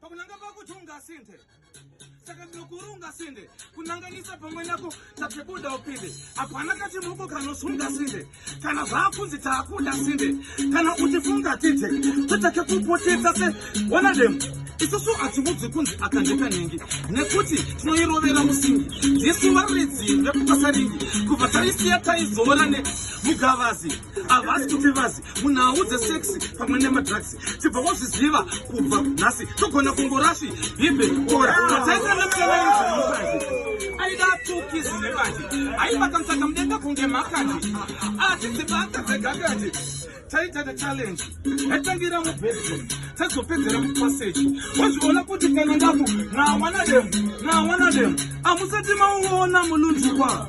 pakunanga pakuti ungasinde saka ndinokuri ungasinde kunanganisa pamwe nako takebuda upinde hapana kachimoko kanosunga sinde kana zvaakunzi taakuda sinde kana uchifunga tite totake kupotesa se one of them isusu hatiudzi kunzi akandekanengi nekuti tinoirovera musingi ndisuva ridzimbe kupasaringi kubva taisiya taizorane mugavazi havasi kuti vazi munhau dzeseksi pamwe nemadrugs chibva wazviziva kubva nhasi togona kungorasvi himbe ora aidatukisi nebazi aivakamsaka mudenga kunge makadi asi dzibaka dzegagadi taitata challenge yatangira mubedroom tazopedzera mupassage wazviona kuti kana ndaku nawanadem nawanadem amusati mauona mulunzikwa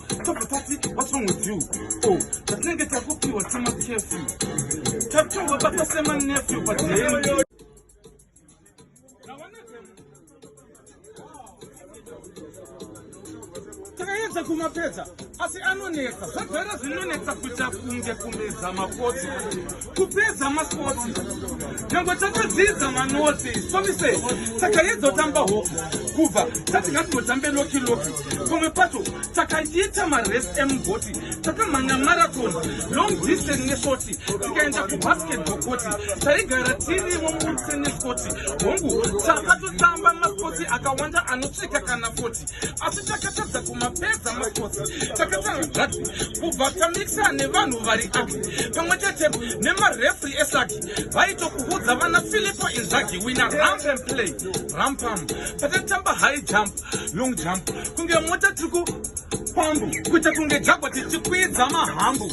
Tobva tati what's wrong with you? Oh, tatinenge takupiwa tima chef. Tapchongwa bata sema nephew but then Takayedza kumapedza asi anonetsa. Zvagara zvinonetsa kuita kunge kumedza makoti. kupedza makotsi nyange tatodzidza manotsi somise takaedza kutamba ho kubva tati ngatinotambe loki loki pamwe pacho takaita marest emugoti takamhanya marathon long distance neshoti tikaenda kubasketball koti taigara tirimo murse neskoti hongu takatotamba makotsi akawanda anosvika kana foti asi takatadza kumapedza makotsi takatanga gati kubva tamikisa nevanhu vari aki pamwe chete nemarefri esaki vaitokuudza vana filipo inzagi wina ramp and play rampam patatamba high jump long jump kunge mota tiri kupambu kuita kunge jagwa tichikwidza mahambu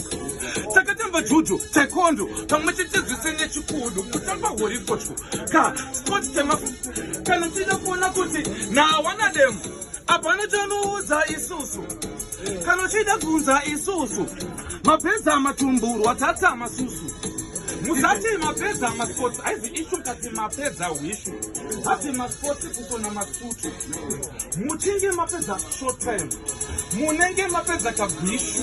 takatamba judo taikondo pamwe chete zvese nechikudu kutamba horikotyo ka sport tema kana tichida kuona kuti nawana demo hapana chanoudza isusu kana uchiida kunza isusu mapeza matumburwa tata masusu muzati mapeza masports aizi ishu kati mapeza hwishu hati masports kusona masutu muchinge mapeza short time munenge mapeza kabhishu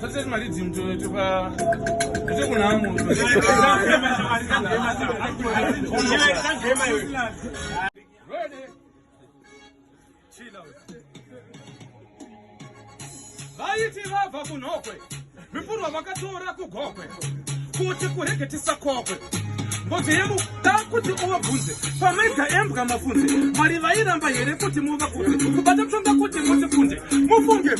Sasa mali zimto tuka ndio kuna hamu. Vaiti vabva kunhokwe mipurwa vakatora kugokwe kuti kurege tisakokwe mbodzi yemu da kuti uvabvunze pamaida embwa mafunze mwari vairamba here kuti muvakunze kubata tsonga kuti mutifunze mufunge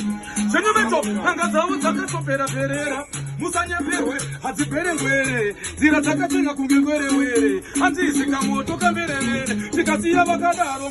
zvenyu veto panga dzavo dzakatopera perera musanyeperwe hadziberengwere nzira dzakatenga kunge ngwerewere hanziisika moto kamberevere tikasiya vakadaro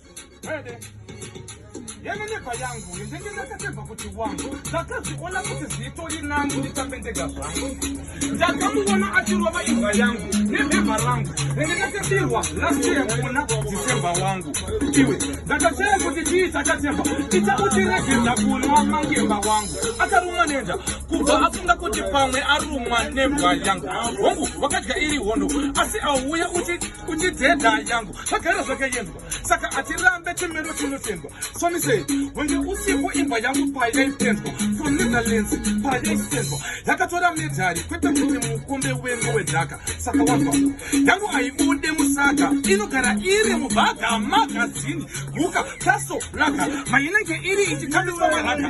Ready. yene neba yangu yendenge ndakatemba kuti wangu ndakaziona kuti zito rinangu ndikapendega zvangu ndakamuona achirova imbwa yangu nebhebha rangu renge ndakabirwa lasiya kuona dzisemba wangu iwe ndakataya kuti chii chakatemba ita utiregedza kunwa mangemba wangu akarumwa nenda kubva afunga kuti pamwe arumwa nembwa yangu hongu wakadya iri hondo asi auuya uti kuchidhedha yangu zvagara zvakaendwa saka hatirambe chimiro chinotendwa somisei hunge usiku imba yangu payaitendwa from netherlands payaitendwa yakatora medhari kwete kuti mukombe wengu wedhaka saka wava yangu haibude musaga inogara iri mubhaga magazini guka taso laka mainenge iri ichitambisa maraka